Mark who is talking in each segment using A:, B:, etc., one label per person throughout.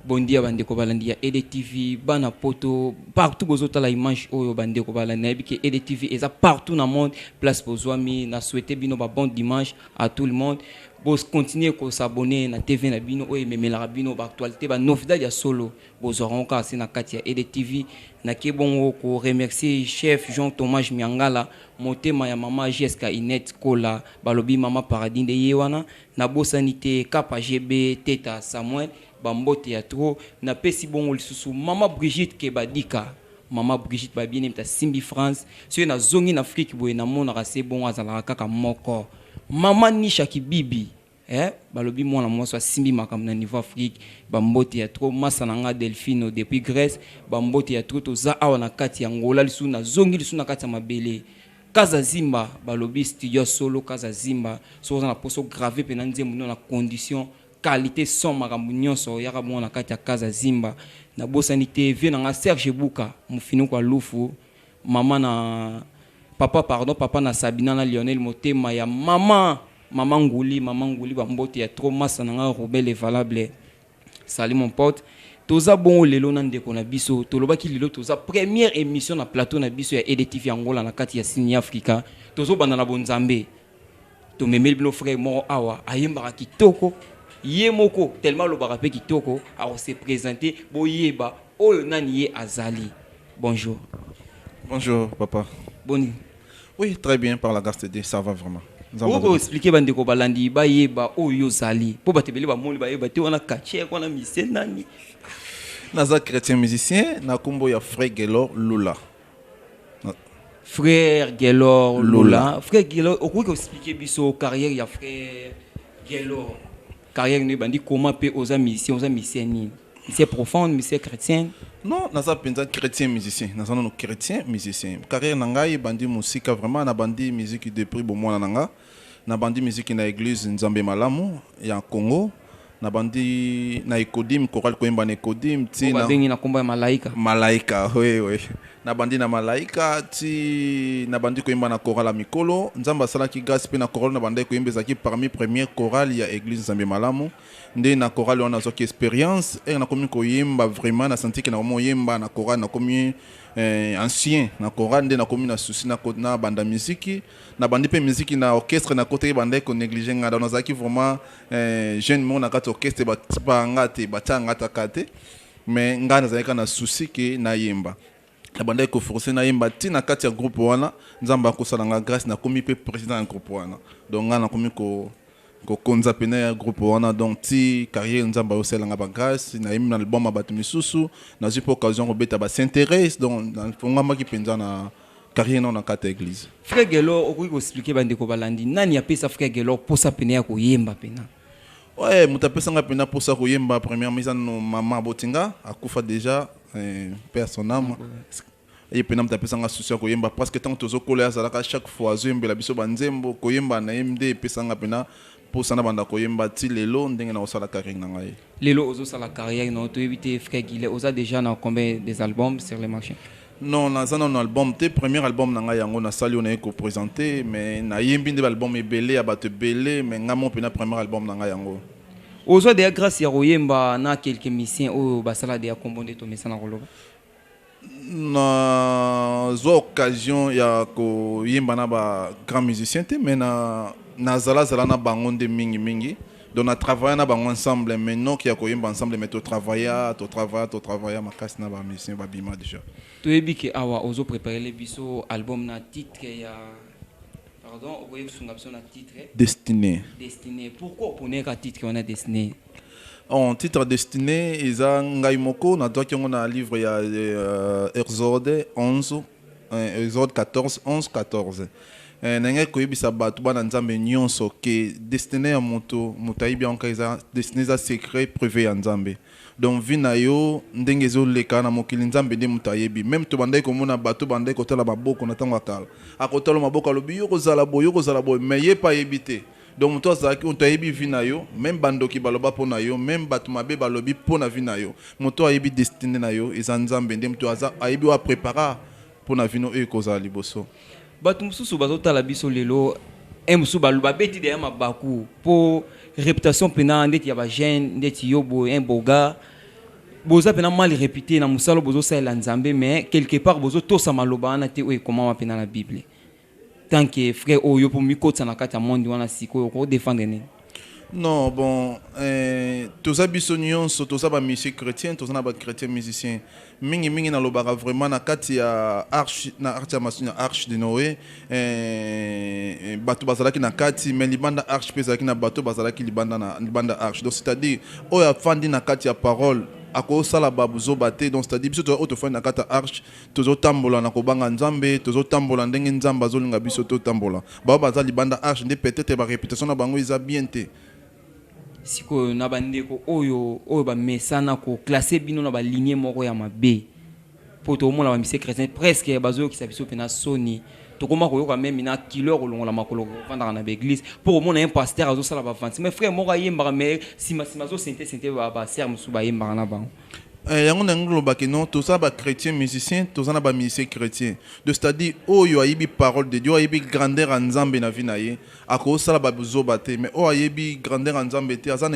A: Bon dia ba ndeko balandi ya EDTV, bana poto partout bozo tala image oyo ba ndeko balandi nayebi ke EDTV eza partout na monde place bozuami na souhaite bino ba bon dimanche à tout le monde bo continuer ko s'abonner na TV na bino oyo ememelaka bino ba actualite ba novidad ya solo bozwaka yango kaka se na kati ya EDTV na ke bongo ko remercier chef Jean Thomas Miangala motema ya mama JSK Inette Kola balobi mama paradis nde ye wana Na bosani te Kappa JB, Teta Samuel, ba mbote ya trop. Na pesi bongo lisusu Mama Brigitte Kebadika, Mama Brigitte Babiene moto asimbi France. Soki na zongi na Afrique boye na monaka se bongo azalaka kaka moko. Mama Nisha Kibibi eh balobi mwana mwasi oyo asimbi makambo na niveau Afrique, ba mbote ya trop. Masta na nga Delfino depuis Grèce, ba mbote ya trop. Toza awa na kati ya Angola lisusu na zongi lisusu na kati ya mabele. Kaza Zimba balobi studio ya solo Kaza Zimba soki oza na poso grave pena nzembo no na condition qualite son makambo nyonso yaka bongo na kati ya Kaza Zimba na bosani te vieux na nga Serge Buka mufinuku ya lufu mama na papa pardon papa na Sabina na Lionel Motema ya mama mama Nguli mama Nguli ba mbote ya trop masta na nga Roubaix le valable Salut mon pote. Toza bongo lelo na ndeko na biso. Tolobaki lelo toza première émission na plateau na biso ya EDTV Angola na kati ya Sini Africa. Tozo banda na bonzambe. Tomemeli bino frère moko awa ayembaka kitoko ye moko tellement alobaka pe kitoko ako se présenter boyeba oyo nani ye azali. Bonjour. Bonjour
B: papa. Boni.
A: Oui, très
B: bien par la grâce de Dieu, ça va vraiment. Nzambe Boko aza- expliquer ba
A: ndeko balandi ba yeba oyo ozali. Po ba tebele ba moni ba yeba te wana kache wana mise nani. Naza
B: chrétien musicien na kombo ya Frère Gelor Lula. Na-
A: Frère Gelor Lula. Lula. Frère Gelor, okoki ko expliquer biso carrière ya frère Gelor. Carrière no ebandi comment pe oza musicien oza musicien nini? Musicien profonde, musicien chretien? Non naza penza
B: chretien musicien naza nanu chretien musicien carrière na ngai ebandi musika vraiment na bandi musique depuis bo mwana na nga na bandi musique na eglise nzambe malamu ya Congo na bandi na ecodim chorale koyemba na ecodim ti na malaika
A: oui oui
B: Nabandi na malaika ti nabandi koyemba na chorale ya mikolo. Nzambe asalaki grâce pe na chorale nabandaki koyemba ezalaki parmi première chorale ya eglise Nzambe malamu. Nde na chorale wana nazwaki experience et nakomi koyemba vraiment na sentir que nakomi oyemba na chorale nakomi eh, ancien na chorale nde nakomi na souci na ko- na banda miziki na bandi pe miziki na orchestre na kotaki bandaki ko négliger nga donc nazalaki vraiment eh, jeune moko na kati ya orchestre batipa nga te batia nga ata ka te Mais nga nazalaki kaka na souci que nayemba. Nabandaki ko forcer nayemba ti na kati ya groupe wana. Nzambe akosala nga grace nakomi pe president ya groupe wana. Donc nga nakomi ko kokonza pene ya groupe wana donc ti carrière Nzambe ayosela nga ba grace. Nayembi na album ya batu misusu. Nazui pe occasion ya kobeta ba Saint Therese donc nafonguamaki penza na carrière nao na kati ya eglise. Frère Guelor okoki
A: ko expliquer bandeko balandi nani apesa frère Guelor posa pene ya koyemba pena? Ouais,
B: moto apesa nga mpenza mposa koyemba première mise no mama aboti nga akufa déjà eh, mpe ya son âme ye mpenza moto apesa nga susi ya koyemba parce que ntango tozokola ye azalaka chaque fois azoyembela biso banzembo koyemba na ye nde epesa nga mpenza mposa na banda koyemba ti lelo ndenge na kosala carrière na ngai Lelo ozosala
A: carrière na yo toyebi te frère Guillet oza déjà na combien des albums sur le marché? Non naza nanu na
B: album te premier album na ngai yango na sali oyo naye ko presente mais na yembi nde ba album ebele ya batu ebele mais ngai moko pena premier album na ngai yango. Ozwa dejà
A: grace ya koyemba na quelques musiciens oyo basala dejà kombo nde tomesana koloba? Na
B: zwa occasion ya ko yemba na ba grand musiciens te mais na zala zala na bango nde mingi mingi. Donc na travailler na bango ensemble mais non qui a koyemba ensemble mais to travailler ah, to travailler to travailler makasi na ba musiciens ba bima déjà. Toyebi ke awa
A: ozo préparer les biso album na titre ya pardon okoye kusunga biso na titre Destiné. Destiné.
B: Pourquoi
A: opone ka titre wana Destiné? En
B: titre Destiné eza ngai moko na doki yango na livre ya euh, Exode 11 Eh, Exode 14, 11, 14. Eh, nalingaki koyebisa bato bana Nzambe nyonso ke destine ya moto moto ayebi yango kaka eza destine eza secret prive ya Nzambe. Donc vie na yo ndenge ezoleka na mokili Nzambe nde moto ayebi. Meme tobandaki komona bato bandaki kotala maboko na ntango ya kala. Akotala maboko alobi yo kozala boye yo kozala boye mais ye pa ayebi te. Donc mutu azalaki mutu ayebi vie na yo meme ba ndoki baloba po na yo meme batu mabe balobi po na vie na yo mutu ayebi destine na yo eza nzambe nde mutu aza ayebi oyo a prepara po na vie no oyo ekozala liboso. Batu mususu
A: bazo tala biso lelo heure mosusu babeti deja mabaku po reputation pena ndeti ya ba jeune ndeti yo boye un beau gars boza pena mal repute na mosala bozosalela nzambe mais quelque part bozotosa maloba wana te oyo ekomama pena na bible Tant que frère oyo po mikotisa na kati ya monde wana sikoyo oko defendre nini? Non bon
B: eh, toza biso nionso toza ba musier chretien toza na ba chretien musicien mingi mingi na lobaka vraiment na kati ya arche na arche ya masini ya arche de Noe eh, bato bazalaki na kati mais libanda arche pe ezalaki na bato bazalaki libanda na libanda arche donc c'est à dire oyo afandi na kati ya parole akosala babuzoba te donc c'est à dire biso toza oyo tofandi na kati ya arche Tozo tambola na kobanga Nzambe, tozo tambola ndenge Nzambe azo linga biso to tambola. Ba oyo baza libanda arche nde peut etre ba reputation na bango eza bien te.
A: Sikoyo na ba ndeko oyo oyo ba mesana ko classer bino na ba lignee moko ya mabe po to mona ba misie chretien presque bazo yokisa biso pena soni tokoma koyoka meme na kilo ya kolongola makolo kofandaka na ba eglise po komona un pasteur azo sala ba avancement frère moko ayembaka mais sima sima azo sente sente ba ba sœurs mosusu bayembaka na bango Eh, yango nangi
B: koloba ke non toza ba chrétien musicien toza na ba musicien chrétien de c'est-à-dire oyo ayebi parole de dieu ayebi grandeur ya nzambe na vie na ye akosala babuzoba te mais oyo ayebi grandeur ya nzambe te aza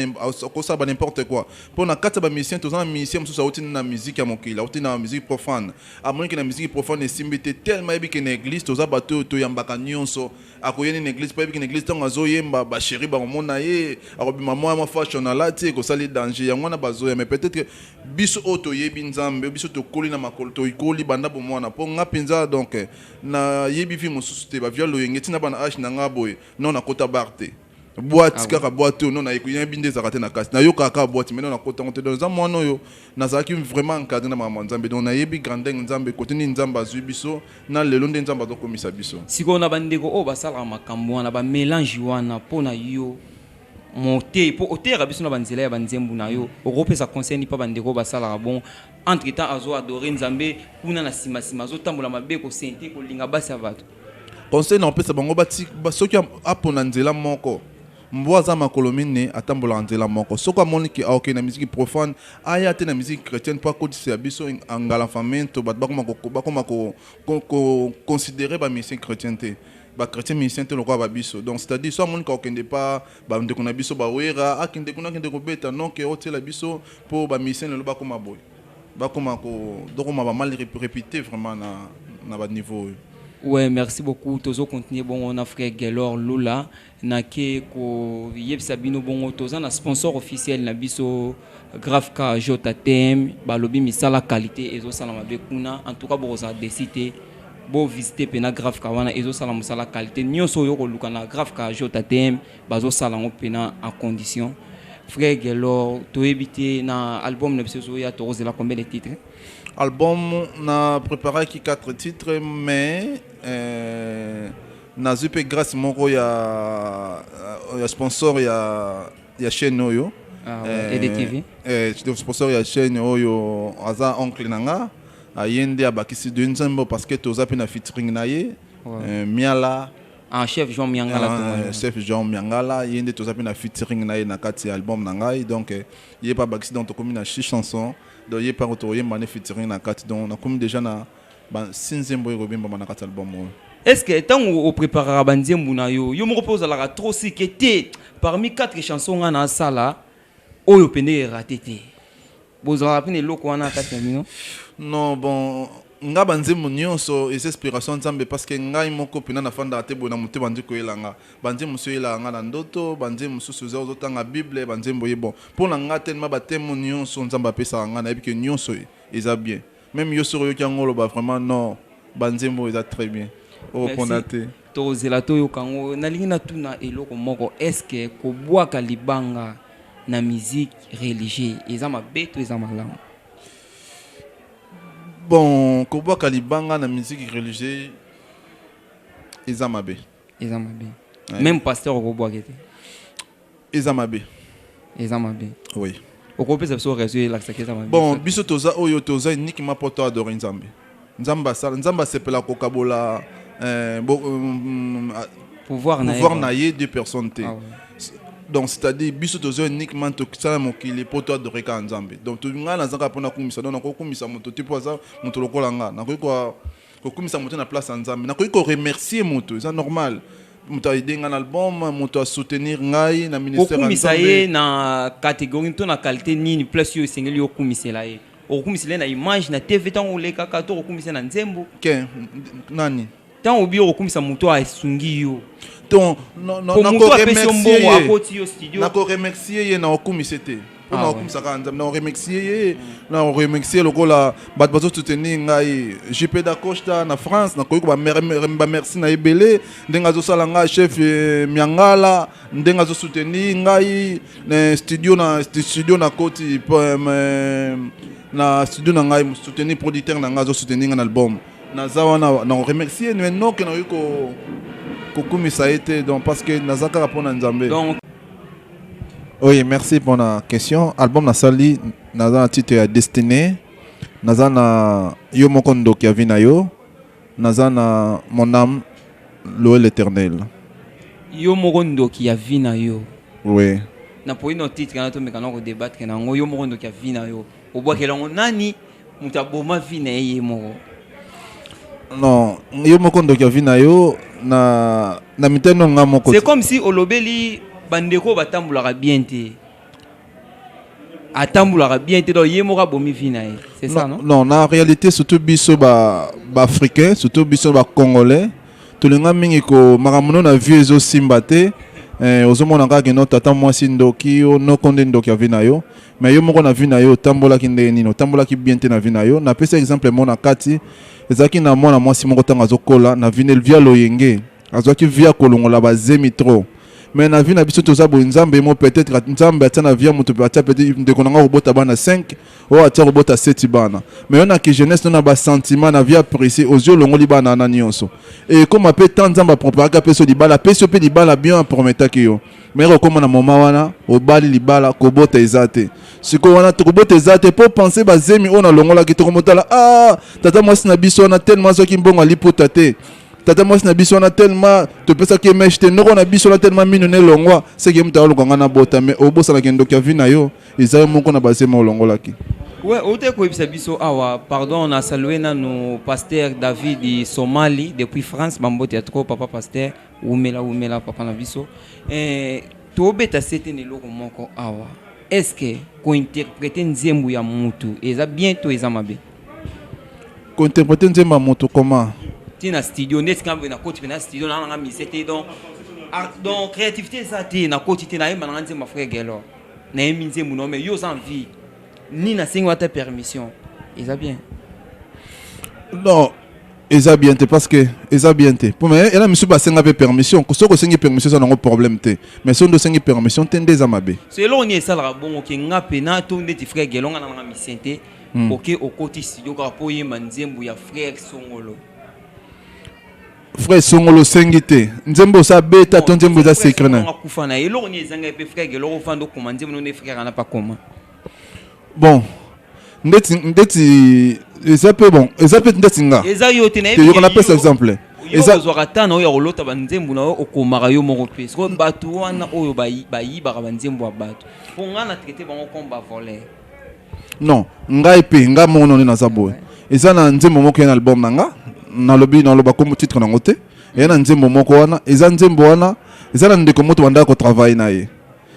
B: akosala ba n'importe quoi mpo na kati ya ba musicien toza na musicien mosusu auti na musique ya mokili auti na musique profane amonike na musique profane esimbi te tellement ayebi ke na église toza bato oyo toyambaka nyonso Ako ye nini na eglise po ayebi ke na eglise tango azo yemba ba cherie bako mona ye ako bima moya mwa fashion alati eko sala ye danger yango wana bazo ya mais peut etre biso oyo to yebi nzambe biso to koli na makolo to koli banda bo mwana po nga penza donc na yebi vie mosusu te ba via loyenge ti na bana age na nga boye non na kota bar te. boite ah kaka boite oyo nona ekoyebi nde ezalaka te na kasi nayokaka kaka boite maintenant nakota yango te donc eza mwana oyo nazalaki vraiment encadre na makambo ya nzambe donc nayebi grandeur nzambe kote nini nzambe azwi biso na lelo nde nzambe azokomisa biso sikoyo na bandeko oyo
A: basalaka makambo wana bamelange wana mpo na yo moteyi mpo oteyaka biso na banzela ya banzembu na yo okopesa conseil nipa bandeko basalaka bon entre temps azo adore nzambe kuna na nsima nsima azotambola mabe kosente kolinga basi ya bato Conseil na kopesa
B: bango bati soki apona nzela moko mbwa aza makolo minne atambolaka nzela moko soko amoni ke aoke na miziki profane aya te na miziki chrétienne mpo akotisela biso engalanfamento bato bakoma bakoma koconsidere bamusicien chrétien te bachrétien musicien te lokola babiso donc c'est-à-dire so amoni kakokende mpa bandeko na biso bawera akende kuna akende kobeta noke otyela biso mpo bamusicien lelo bakoma boye bakoma dokoma ba mal réputé vraiment na, na ba niveau oyo Ouais, merci
A: beaucoup. Tozo continuer bon on a frère Gelor Lula na ke ko yebisa bino bongo toza na sponsor officiel na biso grave ka JTM balobi misala qualité ezo sala mabe kuna en tout cas boko za décider bo visiter pena grave ka wana ezo sala musala qualité nioso yo ko luka na grave ka JTM bazo sala yango pena en condition frère Guelor toyebi te na album na biso ezoya tokozela combien de titre album
B: na préparaki 4 titre mais euh, nazwi mpe grâce moko ya, euh, ya sponsor ya, ya chaîne oyo ah,
A: ouais. eh, TV. Eh,
B: eh sponsor ya chaîne oyo aza oncle na nga aye nde abakisi de nzembo parce que toza mpe na featuring na ye ouais. eh, miala Ah, chef
A: Jean Miangala. Ah, euh, chef Jean Miangala,
B: il y a des choses na featuring na na kati album na ngai donc euh, il y a pas baxi donc comme na six chansons donc il y a pas retour il y featuring na kati donc na comme déjà na ba sinzembo ko bimba na kati album. Ouais. Est-ce que tant
A: au préparera banzembo na yo, yo moko poza la trop si que parmi quatre chansons na sala Oyo pende e rate te. Bozalaka pe na eloko wana kati na bino? Non bon
B: nga ba nzembo nionso eza inspiration ya nzambe parce que ngai moko pena na fandaka te boye na motema nde koyela nga ba nzembo mosusu eyelaka nga na ndoto ba nzembo mosusu eza ozo tanga bible ba nzembo ye bon pona nga tellement ba temo nionso nzambe apesaka nga nayebi ke nionso eza bien Meme yo soki oyoki yango oloba vraiment non ba nzembo oyo eza très bien oko pona te. Merci tokozela toyoka
A: yango. Nalingi natuna eloko moko est ce que kobwaka libanga na musique religieux eza mabe to eza malamu?
B: Bon kobwaka libanga na musique religieux eza mabe. eza mabe ouais.
A: même pasteur okobwake te eza
B: mabe eza
A: mabe oui
B: okopesa biso
A: raison elakisaki eza mabe bon biso toza oyo
B: toza uniquement mpo to adore nzambe nzambe asala nzambe asepela kokabola euh, bo, um, pouvoir na ye deux personnes te ah, ouais. donc c'est-à-dire biso toza uniquement tokisala mokili mpo to adore kaka nzambe donc ngai nazaka mpo nakumisa donc nakokumisa moto te mpo aza moto lokola ngai nakoki kokumisa moto na place ya nzambe nakoki koremercier moto eza normal moto aide ngai na album moto asoutenir ngai na ministère kokumisa ye na
A: catégorie to na qualité nini place oyo esengeli okumisela ye okokumisela ye na image na tv ntango olekaka to okokumisa na nzembo ke
B: nani ntango obi
A: okokumisa moto asungi yo to
B: moto apesi yo mbongo akoti yo studio nakoremercier ye na okumisa te mpo ah, nakokumisa kaka nzambe nakoremercie ye nakoremercie lokola bato bazosoutenir ngai jp dacosta na france nakoki bamerci na ebele ndenge azosala ngai chef eh, miangala ndenge azosoutenir ngai na studio na studio na koti eh, na studio na ngai soutenir producteur na ngai azosoutenir ngai na album naza wana nakoremercie me noke nakoki kokumisa ye te donc parce que naza kaka mpo na nzambe Oui, merci pour la question. Album na sali naza na titre ya Destiné, naza na yo moko ndoki ya vina yo, naza na mon âme louer l'Éternel. Yo
A: moko ndoki ya vina yo. Oui.
B: Na poino
A: titre na to mekana ko débattre na ngo yo moko ndoki ya vina yo. Obwakela ngo nani? Moto aboma vie na ye ye moko.
B: Non, yo moko ndoki ya vie na yo na na mitano nga
A: moko. C'est comme si olobeli bandeko batambolaka bien te. Atambolaka bien te donc ye moko abomi vie na ye. C'est ça non? Non, na réalité surtout
B: biso ba ba africains, surtout biso ba congolais, tolinga mingi ko makambo na vie ezo simba te. Eh, ozomona kaka kino tata mwasi ndoki yo noko nde ndoki ya vie na yo Mais yo moko na vie na yo otambolaki ndenge nini? Otambolaki bien te na vie na yo. Na pesi exemple moko na kati. Ezalaki na mwana mwasi moko tango azo kola na vie ne via loyenge. Azwaki vie ya kolongola ba zemi trop. Mais na vie na biso toza boye Nzambe ye moko peut-etre at- Nzambe atia na vie ya moto atia peut-être ndeko na nga kobota bana 5 oyo atia kobota 7 bana. Mais yo na ki jeunesse no na ba sentiments na vie ya pressé ozwi olongoli bana wana nyonso. Et ekoma pe temps Nzambe a preparaka pe so libala apesi yo pe libala bien a prometaki yo. Mais okoma na moment wana obali libala kobota eza te siko wana tokobota eza te po pense bazemi oyo nalongolaki tokomotala ah tata mwasi na biso wana tellement azwaki mbongo aliputa te tata mwasi na biso wana tellement topesaki emeshe te noko na biso wana tellement mino na elongwa seke moto aoluka ngai nabota mais obosanaka endoki ya vi na yo eza yo moko na bazemi olongolaki Ouais, ote koyebisa
A: biso awa pardon na salue nanu pasteur david somali depuis france bambote ya trop papa pasteur Wumela wumela papa na biso. Eh, tobeta sete na eloko moko awa. Est-ce que kointerprete nzembo ya mutu eza bien to eza mabe?
B: Kointerprete nzembo ya mutu comment? Ti na studio
A: nde esika boye nakoti mpe na studio na nanga mise te donc ah, donc créativité eza te nakoti te nayemba nanga nzembo ya frère Gelor nayembi nzembo nao mais yo oza en vie ni na sengi wata permission eza bien
B: non eza bien te parce que eza bien te mpo me ela misusu basenga mpe permission soki osengi permission eza nango problème te mais soki nde osengi permission te nde eza mabe so eloko nini esalaka
A: bongo ke nga mpe na to ndeti frère gelonga na nanga misien te hmm. oke okoti studio kaka mpo oyemba nzembo ya frère songolo Frère
B: Songolo sengi te. Nzembo sa beta ton nzembo za secret na. Kufa na eloko ni ezanga
A: pe frère ke eloko fando koma nzembo no ne frère na pa koma. Bon.
B: Ndeti ndeti eza pe bon. Eza pe ndeti nga. Eza yo te na ye. Te yokana
A: pesa exemple.
B: Eza zo kata
A: na yo kolota ba nzembo na yo okomaka yo moko pe. Siko batu wana oyo ba yi ba yi ba nzembo ya batu. Ponga na traiter bango comme ba voleurs. non
B: ngai pe ngai moko none naza boye ouais. eza na nzembo moko ya na album na nga nalobi naloba kombo titre nango te eya na nzembo moko wana eza nzembo wana eza na ndeko moto bandaka kotravaille na ye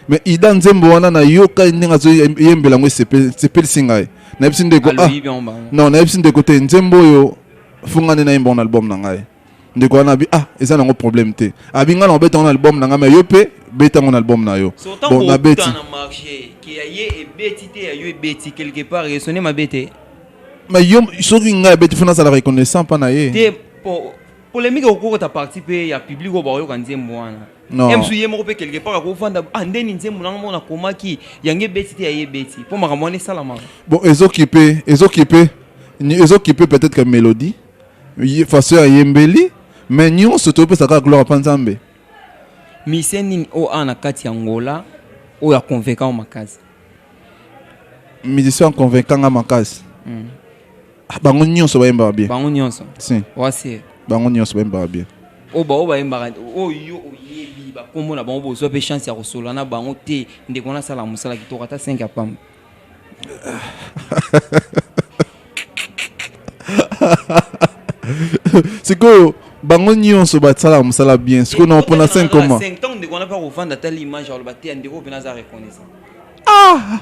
B: mais ida nzembo wana nayoka ndenge azoyembela yango esepelisi ngai nayebisi ndeko ah, non nayebisi ndeko te nzembo oyo fungani nayemba na album na ngai ndeko wana abi ah eza nango problème te abi ngai nakobeta yango na album na ngai me yo mpe beta yango na album na yo bon nabeti
A: mais yo
B: soki ngai abeti fo nazala reconnaissant mpa na ye
A: polémique okokota parti mpe ya public oyo bakoyoka nzembo wana msu ye moko mpe quelque part akovanda ah ndeni nzembo nanga moko nakomaki yango ebeti te ya ye ebeti mpo makambo wana esalamaka bon ezokipe
B: ezokipe ezokipe peut-être que mélodie façon ya yembeli mais nyonso topesa kaka gloire pa nzambe mise
A: nini oyo awa na kati ya ngola oyo aconvainca yo makasi musicien
B: aconvainca nga makasi mm. Ah, bango nyonso bayembaka bien bango nyonso si
A: wasi
B: bango
A: nyonso bayembaka
B: bien oyo baoyo bayembaka
A: oyo oyebi bakombo na bango bozwa mpe chance ya kosolola na bango te ndeko nasala mosala kitoko ata 5 ya pamba
B: sikoyo bango nyonso basalaka mosala bien sikoyo na mpona 5 comment
A: ah!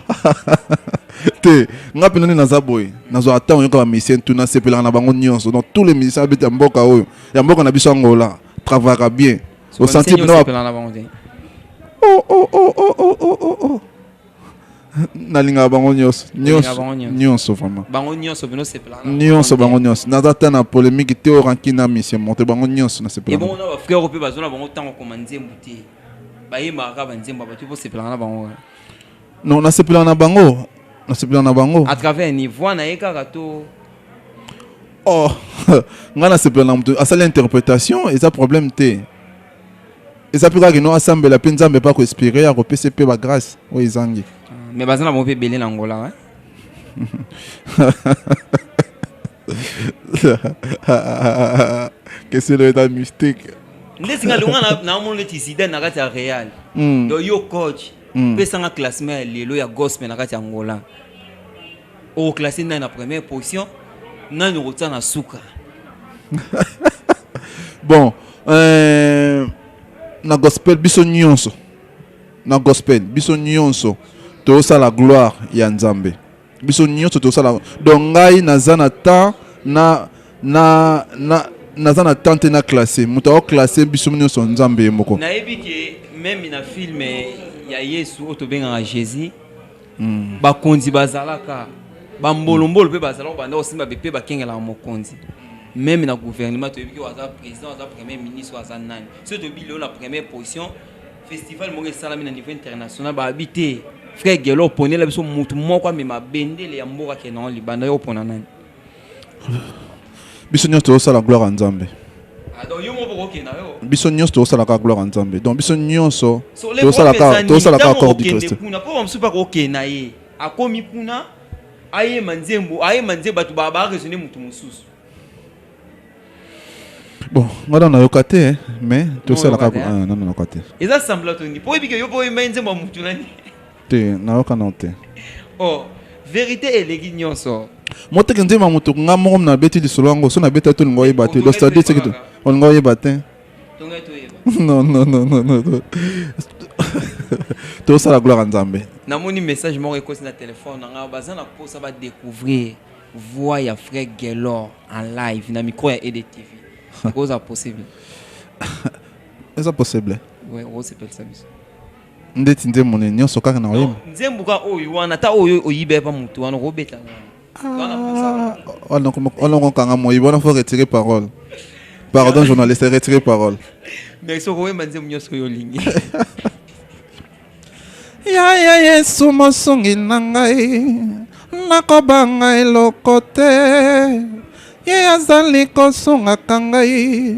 B: te nga mpe nani naza boye nazwa ata oyoka bamisien tu nasepelaka na bango nyonso donc tous les musiciens abeti ya mboka oyo ya mboka na biso ya ngola travaillaka bien osanti bino oh, oh, oh, oh, oh, oh, oh. nalingaka bango nyonso nyonso vraiment bango nyonso bino sepela
A: nyonso bango nyonso
B: naza ata na polémique te o ranki na misie monte bango nyonso na sepela ebongo na ba frère mpe bazo
A: na bango ntango koma nzembo te bayembaka kaka banzembo bato mpo sepelaka na bango non
B: nasepelaka na bango nasepelaka na bango à travers ni voix
A: na ye kaka to
B: oh ngai nasepela na moto asali interprétation eza problème te eza mpe kaka kino asambela mpe nzambe mpe akoespire akopesa mpe bagrace oyo ezangi ah, mais baza na bango mpe
A: ebele na ngola eh?
B: keselo eza mystique nde singa longa
A: naomona neti zidane na kati ya real hmm. do yo coach hmm. pesanga classement ya lelo ya gospel na kati ya ngola Au classé nani na première position nani okotia na suka
B: bon euh, na gospel biso nyonso na gospel biso nyonso la gloire ya nzambe biso nyonso tosala donc ngai naza na temps na na na naza na temps te na classe moto aoklasse biso nyonso nzambe ye moko nayebi ke
A: meme na filme ya yesu oyo tobengaka jésus mm. bakonzi bazalaka bambolombolo mpe bazalaka banda kosimba bepe bakengelaka mokonzi meme na gouvernement toyebi ke aza président aza premier ministre aza nani soki toyebi lelo na première position festival moko esalami na niveau international bayebi te frère gelo oponela biso motu moko amema bendele ya mboka kena libanda yo opona nani
B: biso nyonso tozosala gloire ya nzambe
A: ah, biso nyonso tozosalaka
B: gloire ya nzambe donc biso nyonso tozosalaka corps du christ kuna mpo bamosusu mpe akokende
A: na ye akomi kuna ayema nzembo ayema nzembo bato baresone motu mosusu
B: bon nga na nayoka te mais tosalaka ah, nanayoka te eza sambla toni mpo
A: oyebike yo mpo oyembai nzembo ya motu nani Te nayoka
B: no te. Oh
A: verite eleki nionso. Moteki nzembo ya
B: moto nga moko na beti lisolo yango so na beti ato lingo oyeba te. Donc c'est à dire que olingo oyeba te. Non non non non non. tosala gloire ya nzambe namoni message
A: moko ekosi na telefone na ngai baza na mposa badécouvrir voix ya frère gelor en live na micro ya edtv ekozala possible
B: eza possible osepelisa
A: biso Ndeti
B: nzembo nini nyonso kaka na oyemba? Nzembo ka oyo wana
A: ta oyo oyiba epa mutu wana okobeta ah, wana.
B: Wana okokanga moyibi wana faut retirer parole. Pardon journaliste retirer parole. Mais soko oyemba
A: nzembo nyonso oyo olingi.
B: Yaya Yesu mosungi na ngai nakobanga eloko te ye azali kosungaka ngai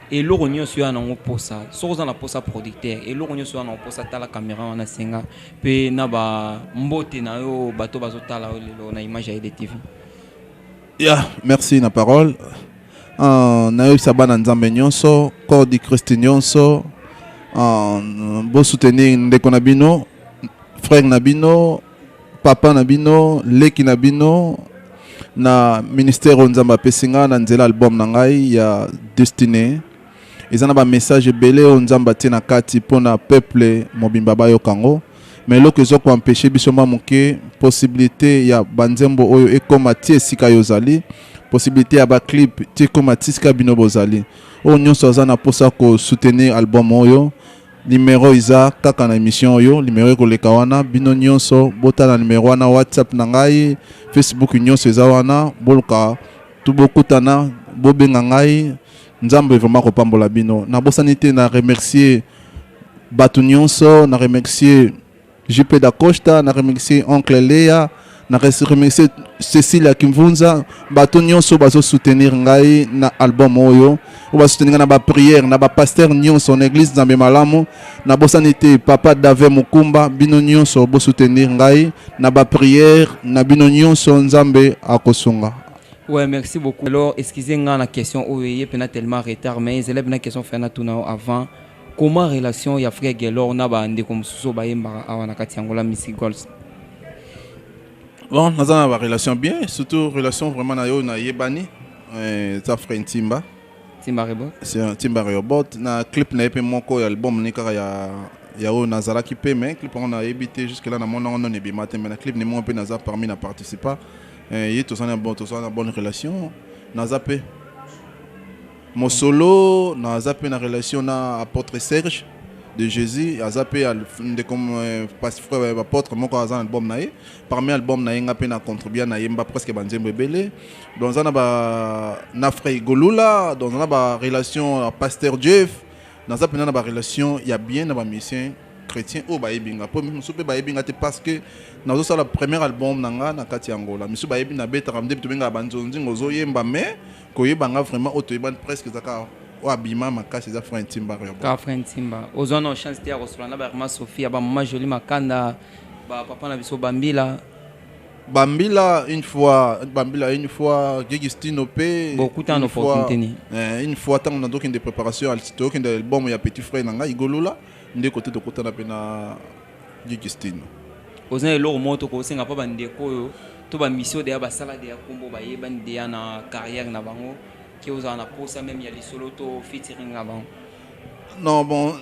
A: eloko nyonso yo nango posa soki oza na posa producteur eloko nyonso yo nango posa tala camera wana senga pe na ba mbote na yo bato bazotala yo lelo na image ya edtv ya
B: merci na parole uh, nayebisa bana nzambe nyonso corps du christ nyonso uh, bosoutenir ndeko na bino frère na bino papa na bino leki na bino na ministère oyo nzambe apesi ngai na nzela album na ngai ya destine eza na bamessage ebele oyo nzambe atie na kati mpo na peuple mobimba bayoka yango mais eloko ezo koempeshe biso mwa moke possibilité ya banzembo oyo ekoma ti esika yo ozali possibilité ya baclip ti ekoma ti esika bino bozali oyo nyonso aza na mposa kosoutenir album oyo Numero eza kaka na emission oyo, numero ekoleka wana. Bino nyonso botala numero wana, WhatsApp na ngai, Facebook nyonso eza wana, boluka tu bokutana, bobenga ngai. Nzambe vraiment kopambola bino. Nabosani te na remercier bato nyonso, na remercier JP Dacosta, na remercie Oncle Lea, na remercie Cecilia Kimvunza, bato nyonso bazo soutenir ngai na album oyo, oyo ba soutenir na ba prière, na ba pasteur nyonso na église Nzambe malamu, na bosani te papa Dave Mukumba, bino nyonso bo soutenir ngai na ba prière na bino nyonso Nzambe akosunga. Ouais, merci
A: beaucoup. Alors, excusez-moi la question, oui, il y a tellement retard, mais il y a une question, faire la avant. Comment relation ya frère Gelor na ba ndeko mususu bayembaka awa na kati ya Angola Music Goals?
B: Bon, naza na ba relation bien, surtout relation vraiment na yo na yebani. Euh, ça frère Ntimba. Timba Rebot.
A: C'est un Timba Rebot.
B: Na clip na EP moko ya album ni kaka ya ya oyo nazalaki pe mais clip on a évité jusque là na mon on ne bima te mais na clip ni mon pe naza parmi na participa. Euh, ye tosana bon tosana bonne relation. Naza pe Mosolo na aza pe na relation na apotre Serge de Jesus aza pe ndeko pasteur apotre moko aza na album na ye parmi album na ye nga pe na contribua na yemba presque ba nzembo ebele donc aza na ba na frère Golula donc na ba relation ya pasteur Jeff naza pena na ba relation ya bien na ba musiciens chrétien oyo bayebi nga mpo mosusu mpe bayebi nga te parce que nazosala premier album na nga na kati ya angola misu bayebi nabetaka nde tobengaka banzonzingo ozoyemba mais Koyeba nga vraiment oyo toyebani presque eza kaka oyo abima makasi eza Franck Ntimba Rebo. Ka Franck Ntimba.
A: Ozwa na chance te ya kosolola na ba Irma Sofia, ba Mama Jolie Makanda, ba papa na biso Bambila. Bambila
B: une fois, Bambila une fois, Gigistino pe. Bokutana
A: opportunité nini? Eh, une fois tango
B: na tokende préparation, tokende album ya petit frère na ngai Igolola, nde kote tokutana pe na Gigistino. Oza na
A: eloko moko tokoki kosenga mpo bandeko oyo to bamisio deya basala deya nkombo bayebani deya na carrière na bango ke ozala na posa meme ya lisolo to featuring na bango non
B: bon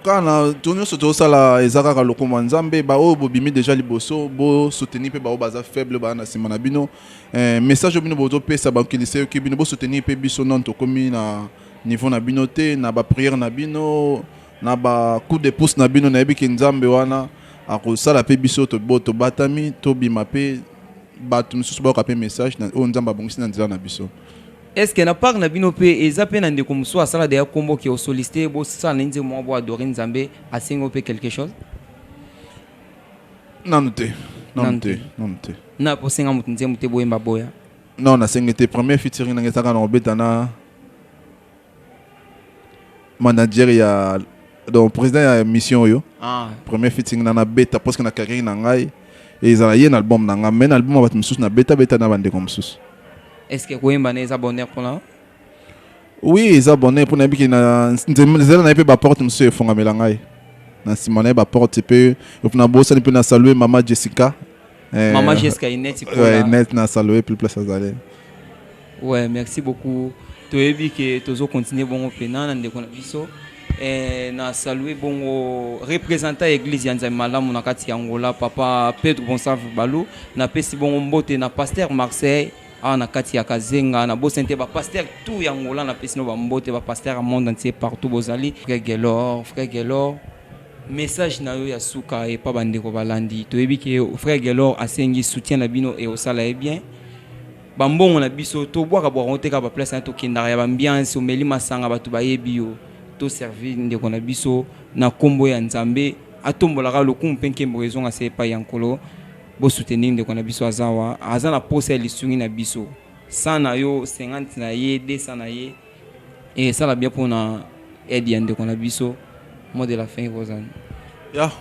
B: kaka na to nyonso tozosala eza kaka lokumu ya nzambe baoyo bobimi deja liboso bosoutenir mpe baoyo baza faible baa na nsima na bino eh, message oyo bino bozopesa bankilisa yoki bino bosoutenir mpe biso nano tokomi na niveau na bino te na bapriere na bino Na ba coup de pouce na bino nayebi ke Nzambe wana akosala pe biso tobo tobatami tobima pe batu misusu bayoka pe message na oyo Nzambe abongisi na nzela na biso. Est ce que na
A: part na bino pe eza pe na ndeko mususu asala dejà kombo ke o sollicite ye bosala na ye nzembo moko bo adorer Nzambe asengi yo pe quelque chose?
B: Nanu te, nanu te, nanu te.
A: Na ko senga mutu nzembo te boyemba aboya? Non nasengi te,
B: premier featuring na nga eza kaka na kobeta na. manager ya donc président ya mission oyo ah. premier fitting na nabeta parce que na carrière na ngai ezala ye na album na ngai mais na album ya bato mosusu nabeta beta na bandeko mosusu est ce que koyemba
A: na eza bonheur mpona oui
B: eza bonheur mpo nayebi ke nzela na ye mpe baporte mosusu efongamela ngai na nsima na ye baporte mpe nabosani mpe na salue mama jessica eh, mama jessica ineti eh, na salue plus place azali Ouais, merci
A: beaucoup. Toyebi que tozo continuer bongo pena na ndeko na biso. Eh, na saluer bongo représentant église ya Nzambe malamu na kati ya Angola papa Pedro Gonçalves Balu na pesi bongo mbote na pasteur Marseille awa na kati ya Kazenga na bosani te ba pasteur tout ya Angola na pesi no ba mbote ba pasteur ya monde entier partout bozali frère Gelor frère Gelor message na yo ya suka epa bandeko balandi toyebi ke frère Gelor asengi soutien na bino e osala ye bien Ba mbongo na biso to bwaka bwaka ngo te kaka ba place na to kendaka ya ba ambiance omeli masanga batu ba yebi yo to servir ndeko na biso na kombo ya Nzambe atombola kaka lokumu pe nkembo ezonga se epayi ya Nkolo bo soutenir ndeko na biso aza wa aza na posa ya lisungi na biso 100 na yo 50 na ye 200 na ye esala bien pona aide ya ndeko na biso mot de la fin ekozala ya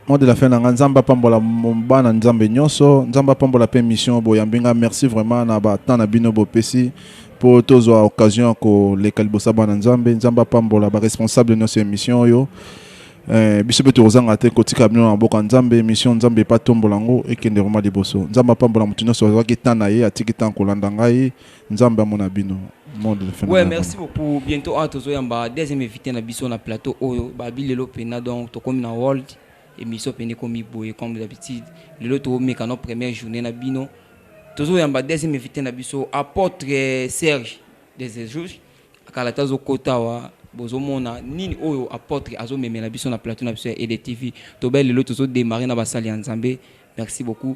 B: Mot de la fin na nga nzambe apambola bana nzambe nyonso nzambe apambola pe mission boyambi nga merci vraiment na ba temps na bino bopesi mpo tozwa occasion ya koleka liboso ya bana nzambe nzambe apambola ba responsable nyonso ya émission oyo Eh, biso mpe tokozanga te kotika bino na maboko ya nzambe emission nzambe epatombola yango ekende vraimen liboso nzambe apambola moto nyonso azwaki temps na ye atiki temps kolanda ngai Nzambe amona bino. Monde le phénomène. Ouais,
A: merci beaucoup. Bientôt à tozo yamba deuxième invité na biso na plateau oyo ba bilelo pena donc tokomi na world émission pende komi boye comme d'habitude. Lelo to meka no première journée na bino. Tozo yamba deuxième invité na biso apôtre eh, Serge des jours akala tazo kota wa bozomona nini oyo apôtre azomemela biso na plateau na biso ya EDTV. Tobele lelo tozo démarrer na basali ya Nzambe. Merci beaucoup.